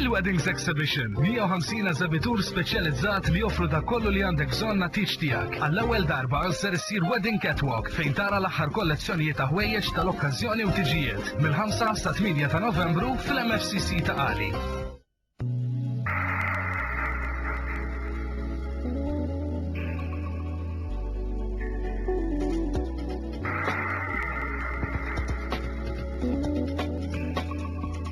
Il-Weddings Exhibition, 150 eżebitur speċjalizzat li joffru dak kollu li għandek bżonn għat-tieġ tiegħek. Għall-ewwel darba ser issir Wedding Catwalk fejn tara l-aħħar kollezzjonijiet ta' ħwejjeġ tal-okkażjoni u tiġijiet mill-5 sa 8 ta' Novembru fl-MFCC ta' Qali.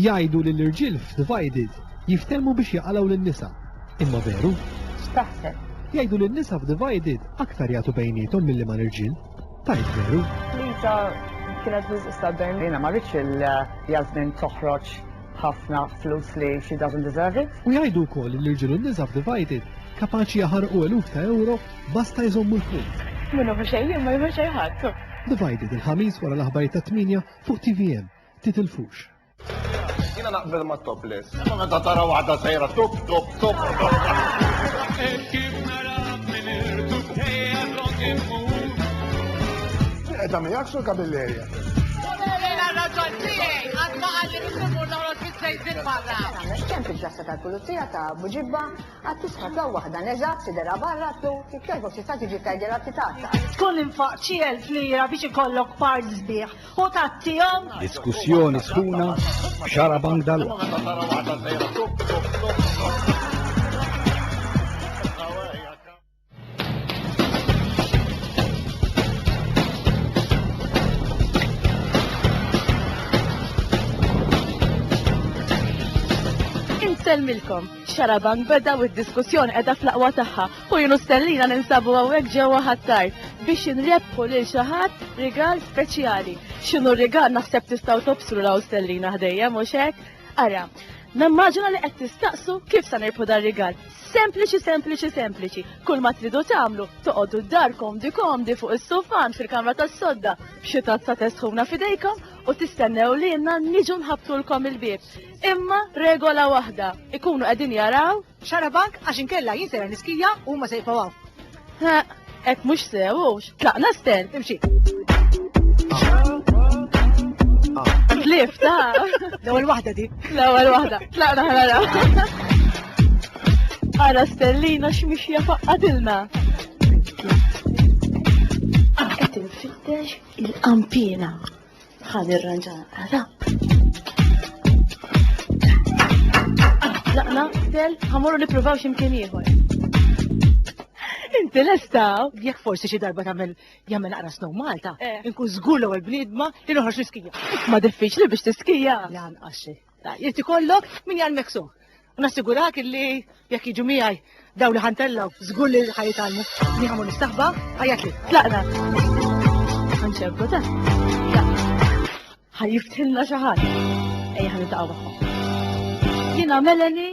Jgħidu li l-irġiel f'Divided jiftehmu biex jaqalgħu lin-nisa. Imma veru? X'taħseb? Jgħidu li n-nisa f'Divided aktar jagħtu bejniethom milli ma' l-irġiel. Tajt veru? Lisa kienet biżqis ta' bejn. Jiena ma rridx il-Jasmin toħroġ ħafna flus li she doesn't deserve it. U jgħidu wkoll li l-irġiel u n-nisa f'Divided kapaċi jaħarqu eluf ta' ewro basta jżommu l-punt. Min hu mexej jien ma jmexej ħadd. Divided il-Ħamis wara l-aħbarijiet tat-tmienja fuq tvm. Titilfux. Jiena naqbel mat-topless. Imma meta tara waħda sejra tup tup Eta miegħek sur kabillerja. Jena raġol tiegħi għad ma għalli nisumur noħroġ fiż-żejżin barra. Kemm fil-ġassa tal-pulizija ta' Buġibba għad tisħab law waħda neżat sidera barra tlu kif jogħġbok tista' tiġi tgħidilha titgħatta. Tkun infaq xi elf lira biex ikollok part sbieħ U tattihom. Diskussjoni sħuna xara bank dal Insellmilkom, xarabank beda u d-diskussjoni qiegħda fl-aqwa tagħha Hu jien u Stellina ninsabu hawnhekk ġewwa Ħ'Attar biex inrebbħu lil xi ħadd rigal speċjali. X'inhu r-rigal naħseb tistgħu tobsru raw Stellina ħdejja mhux hekk? Ara, nimmaġina li qed tistaqsu kif se nirbħu dar-rigal. Sempliċi sempliċi sempliċi. Kull ma tridu tagħmlu, toqgħodu d-dar komdi komdi fuq is-sufan fil-kamra tas-sodda b'xi tazza te sħuna f'idejkom u tistennew lilna niġu nħabbtulkom il-bieb. Imma regola waħda, ikunu qegħdin jaraw Xarabank għax inkella jien sejra niskija u huma se jibqgħu hawn. Ħaq, hekk mhux sew hux. Tlaqna sten. Imxi. Tlif ta' L-ewwel waħda di. l-ewwel waħda. Tlaqna ħanara. Ara stellina x'mixja faqqatilna. Qed infittex il-qampina. Ħa nirranġa rap. Laqna, del, ħamorru nippruvaw x'imkien ieħor. Inti lesta, jekk forsi xi darba tagħmel jagħmel naqra snow Malta, Eh. inkun żgur l-ewwel bniedma li noħroġ l-iskija. Ma diffiċli biex tiskija. Lanqas xejn. Jrid ikollok min jgħallmek sew. U nassigurak illi jekk jiġu miegħi daw li ħantellgħu żgur li ħa jitgħallmu. Li ħamur nistaħba, ħajjatli. Tlaqna. Ħanċebbu ta. Ħajjiftilna xi ħadd. Ejja ħaniltaqgħu magħhom. Jiena Melanie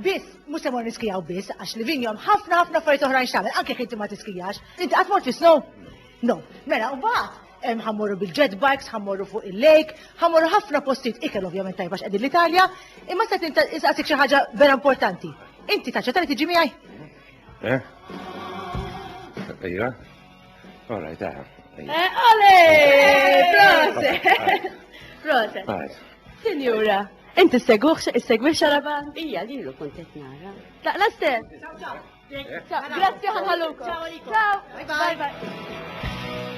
Biss, mhux se mmorru niskijaw biss, għax li vinjom ħafna ħafna affarijiet oħrajn x'tagħmel, anke jekk inti ma tiskijax. Inti qatt mort fis-snow? No. Mela, mbagħad ħammorru bil-jet bikes, ħammorru fuq il-lake, ħammorru ħafna postijiet ikel ovvjament tajba x'qegħdin l-Italja, imma se insaqsik xi ħaġa vera importanti. Inti taċċetta li tiġi miegħi? Eh? Ejja. All right, aha. Eh, ole! Proset! Proset! Sinjura. Int issegwux, issegwix xaraban? Ija, lilu kont qed nara. Laqla stess. Grazzi ħanħallukom. Ciao għalikom. Ciao. Bye bye.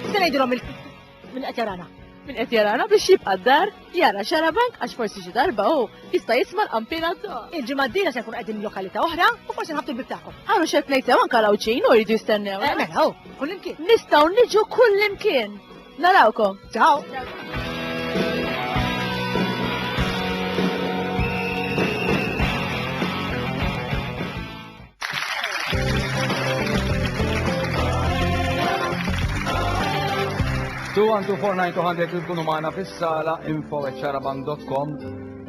Se ngħidilhom minn qed jarana. Minn qed jarana biex jibqa' d-dar jara xarabank għax forsi xi darba hu jista' jisma' l-qampina Il-ġimgħa d-dira se nkun qegħdin lokalità oħra u forsi nħabtu l-bib tagħkom. Għaru xed ngħid sew anke l-għawċin u jridu jistennew. Eh, mela, hu, kullimkien. Nistgħu niġu kullimkien. Narawkom. Ciao. Tu għandu 49 il-kunu maħna fis-sala info ċaraban.com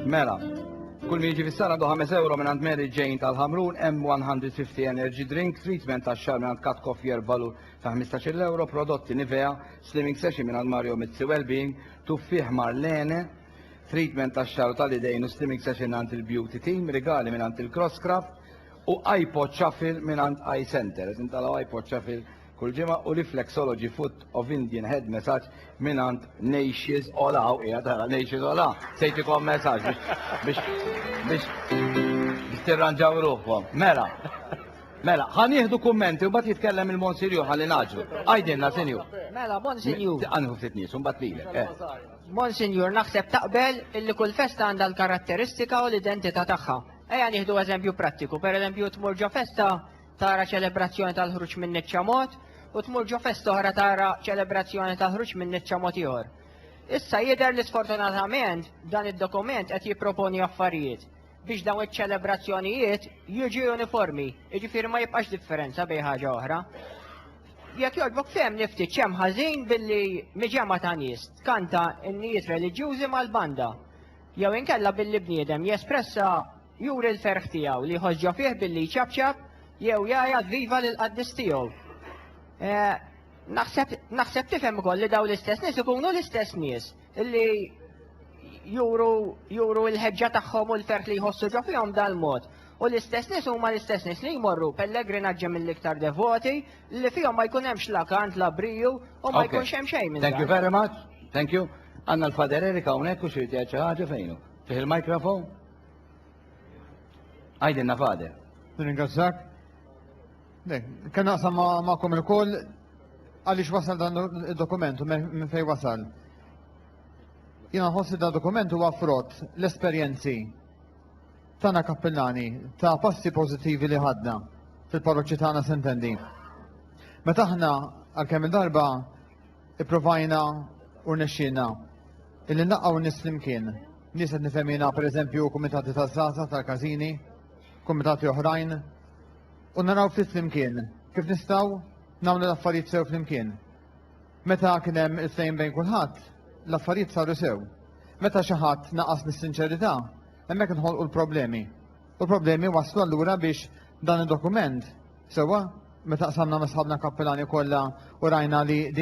mela. Kull miġi fis-sala do 5 euro minn għand Mary Jane tal-Ħamrun M150 Energy Drink, treatment ta' xar minn għand Kat Koffier valur ta' 15 euro prodotti Nivea, slimming session minn Mario Mizzi Wellbeing, tuffieħ Marlene, treatment ta' xar u tal-idejn u slimming session minn il-Beauty Team, rigali minn il-Crosscraft u iPod Shuffle minn iCenter. Center. Qed intalaw iPod Shuffle kull ġimgħa u Reflexology Foot of Indian Head Massage minn għand Nations Ola u qiegħed ara Nations Ola sejtikom messaġġ biex biex biex tirranġaw ruħkom. Mela. Mela, ħa nieħdu kummenti u mbagħad jitkellem il-Monsinjur ħalli naġlu. Għajdilna, Sinjur. Mela, Monsinjur. Anħu ftit nies, u mbagħad lilek. eh. Monsinjur, naħseb taqbel illi kull festa għandha l-karatteristika u l-identità tagħha. Ejja nieħdu eżempju prattiku, pereżempju tmur ġo festa tara ċelebrazzjoni tal-ħruġ minn niċċa mod u tmur ġo festa oħra tara ċelebrazzjoni tal-ħruġ minn niċċa mod ieħor. Issa jidher li sfortunatament dan id-dokument qed jipproponi affarijiet biex dawn iċ-ċelebrazzjonijiet jiġu uniformi, jiġifieri ma jibqax differenza bejn ħaġa oħra. Jekk jogħġbok fehem niftit x'hemm ħażin billi miġema ta' nies tkanta n-nijiet reliġjużi mal-banda jew inkella billi bniedem jespressa juri l-ferħ tiegħu li jħoss ġo fih billi jċapċap jew jgħajjat viva lil qaddis tiegħu. Eh, naħseb tifhem ukoll li dawn l-istess nies ikunu l-istess nies li juru juru l-ħeġġa tagħhom u l-ferħ li jħossu ġo fihom dal-mod. U l-istess nies huma l-istess nies li jmorru pellegrinaġġi mill-iktar devoti li fihom ma jkun hemmx la kant la briju u ma jkunx hemm xejn minn Thank you very much. Thank you. Għanna l-Fader Erika hawnhekk u xi xi ħaġa fejnu. Fih il-mikrofon? Għajdilna Fader. Nirringrazzjak. Kien naqsam magħkom il-koll għaliex wasal dan il-dokument u minn fej wasal. Jina ħossi dan dokument huwa frott l-esperjenzi tana kappellani ta' passi pozittivi li ħadna fil-parroċċi tagħna sentendi. Meta aħna għalkemm il-darba ipprovajna u nexxina illi naqgħu nis flimkien. Nies qed nifhemina pereżempju kumitati taż-żgħażagħ tal-każini, kumitati oħrajn, u naraw ftit flimkien kif nistgħu nagħmlu l-affarijiet sew flimkien. Meta kien hemm il-ftehim bejn kulħadd, l-affarijiet saru sew. Meta xi ħadd naqas mis-sinċerità, hemmhekk inħolqu l-problemi. U l-problemi waslu allura biex dan id-dokument sewwa meta qsamna ma' sħabna kappelani kollha u rajna li din